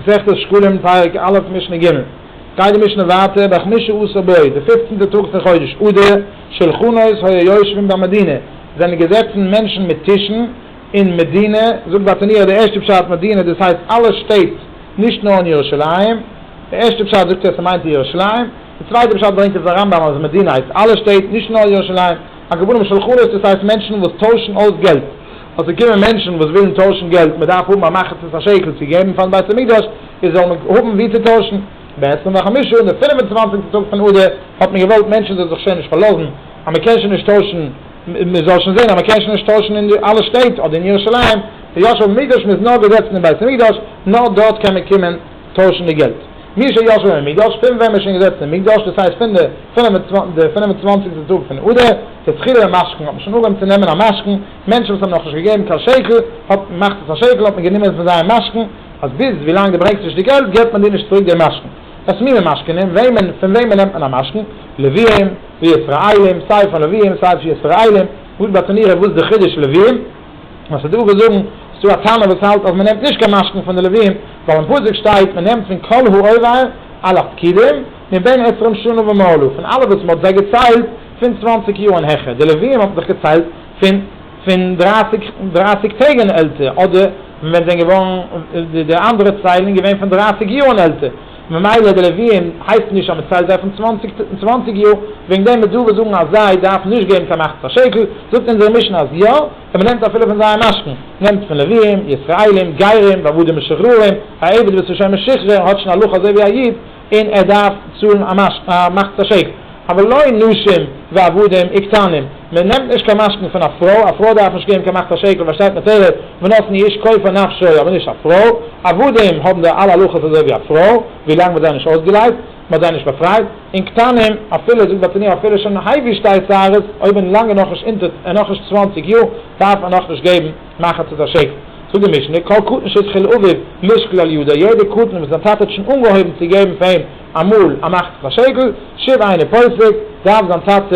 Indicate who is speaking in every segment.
Speaker 1: מסכת שקלים, פרק א', משנה ג'. גייט די משנה ווייטער, בחמישה עשר בואי, די פופצנטע טאג פון חודש אדר, שלחנות היו יושבין במדינה, זענען געזעצן מענטשן מיט טישן אין מדינה, זאגט באטעניו די ערשטע פשט מדינה דאס הייסט אלע שטעט נישט נאר אין ירושלים, די ערשטע פשט זאגט ער ס'מיינט ירושלים, די צווייטע פשט ברענגט עפעס א רמב ם אז מדינה הייסט אלע שטעט נישט נאר ירושלים. הכוונה משלחנות דאס הייסט מענטשן וואס טוישן אויס געלט, אז ס'קומען מענטשן וואס ווילן טוישן געלט, מען דארף האבן א מחצית השקל צו געבן פארן בית המקדש, איז זאל מען האבן ווי צו טוישן. בעשרים וחמשה און די פינף און צוואנציגסטע טאג פון אדר האט מען געוואלט מענטשן זאלן זיך שוין נישט פארלאזן אז מען קען שוין נישט טוישן, מען זאל שוין זען אז מען קען שוין נישט טוישן אין די אלע שטעט אדער אין ירושלים, היות שבמקדש מען איז נאר געזעצן אין בית המקדש, נאר דארט קען מען קומען. טוישן די געלט. מי שישב במקדש, פון ווען מ'איז שוין געזעצן אין מקדש, דאס הייסט פון די פֿינף און צוואַנציק די פֿינף און צוואַנציקסטע טאג פון אדר, דתחילה במשכן, האט מען שוין אנגעהויבן צו נעמען א משכן, מענטשן וואס האבן נאך נישט געגעבן קיין שקל, האט מען מאכט עס א שקל, האט מען גענומען פון זייער משכן, אז ביז ווילאנג דו ברענגסט נישט די געלט, גיבט מען דיר נישט צוריק דעם משכן. וואס מיני משכנים? וועמען, פון וועמען נעמט מען א משכן? לווים, וישראלים, סיי פון לווים, סיי פון ישראלים, וואס באטאנירער, וואס די חידוש לווים? וואס איז דא וואס זאגן, ס'איז דא א טענה וואס האלט אז מ'נעמט נישט קיין משכון פון די לווים, ווייל אין פסוק שטייט מ'נעמט פון כל העובר על הפקידים, מבין עשרים שנה ומעלה, פון אלע וואס מ'האט זיי געציילט פון צוואנציג יאר און העכער, די לווים האט מען דאך געציילט פון פון דרייסיג דרייסיג טעג און עלטער, אדער ווען זענען געווארן די אנדערע ציילן געווען פון דרייסיג יאר און עלטער. ממילא די לוויים הייסט נישט אז מען ציילט זיי פון צוואנציג און צוואנציג יאר, וועגן דעם וועט דרבה זאגן אז זיי דארפן נישט געבן קיין מחצית השקל, זאגט אונזער משנה אז יא, און מען נעמט אפילו פון זייער משכון, נעמט פון לוויים, ישראלים, גרים, ועבדים משוחררים, א עבד וואס איז שוין משוחרר האט שוין הלכה אזוי ווי א איד, און ער דארף צאלן א מחצית השקל. אבל לא אין נשים ועבדים וקטנים, מען נעמט נישט קיין משכנתא פון א פרוי, א פרוי דארף נישט געבן קיין מאכט א שקל ווען שטייט מתירה ונתן איש כופר נפשו אבער נישט א פרוי, עבדים האבן די אלע הלכות אזוי ווי א פרוי ווילאנג מ'האט זיי נישט אויסגעלייזט, מ'האט זיי נישט באפרייט, און קטנים אפילו זאגט בעל תניא אפילו שוין היי ווי שטייט צרות אויב איז לאנג איז נאכנישט אונטער איז נאכנישט צוואנציג יאר דארף ער נאכנישט געבן מחצית א שקל, זאגט די משנה כל קטן שהתחיל אביו לשקול על ידו יעדער קטן וואס זיין טאטע האט שוין אנגעהויבן צו געבן פאר אים אמאל א מאכט זיך א שעגל, שוב איינער פוסק, דארף זיין טאטע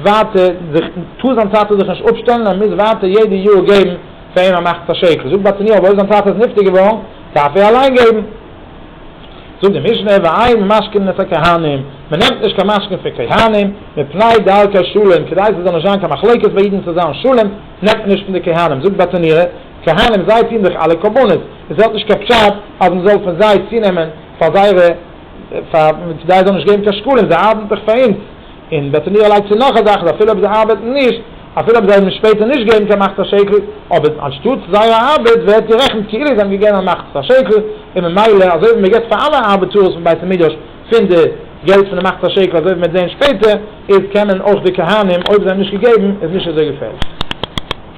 Speaker 1: ווייטער זיך, טאר זיין טאטע זיך נישט אפשטעלן, ער מוז ווייטער יעדע יאר געבן פאר אים א מאכט זיך א שעגל, זאגט באטעניו אבער אויב זיין טאטע איז נפטר געווארן, דארף ער אליין געבן. זאגט די משנה, ואין משכין את הכהנים, מען נעמט נישט קיין משכין פון כהנים, מפני דארקא שלום, כדי ס'זאל נישט זיין קיין מחלוקת ביי אידן צו זיין שלום, נעמט מען נישט פון די כהנים, זאגט באטעניו, כהנים זיי טוהן דאך אלע קרבנות, און ס'האט נישט קיין פשט אז מען זאל פון זיי צונעמען, פאר זייערע פאר זיי זאלן נישט געבן קיין שקלים זיי ארבעטן דאך פאר אונז און בעצם איר לייגט צו נאך א זאך אז אפילו אויב זיי ארבעטן נישט אפילו אויב זיי וועלן שפעטער נישט געבן קיין מחצית השקל אבער אנשטאטס זייער ארבעט ווערט גערעכנט כאילו זיי האבן געגעבן א מחצית השקל און ממילא אזוי ווי מען געבט פאר אלע ארבעטארס פון בית המדרש פון די געלט פון די מחצית השקל אזוי וועט מען זען שפעטער איז קען מען אויך די כהנים אויב זיי האבן נישט געגעבן איז נישט אזוי געפערליך.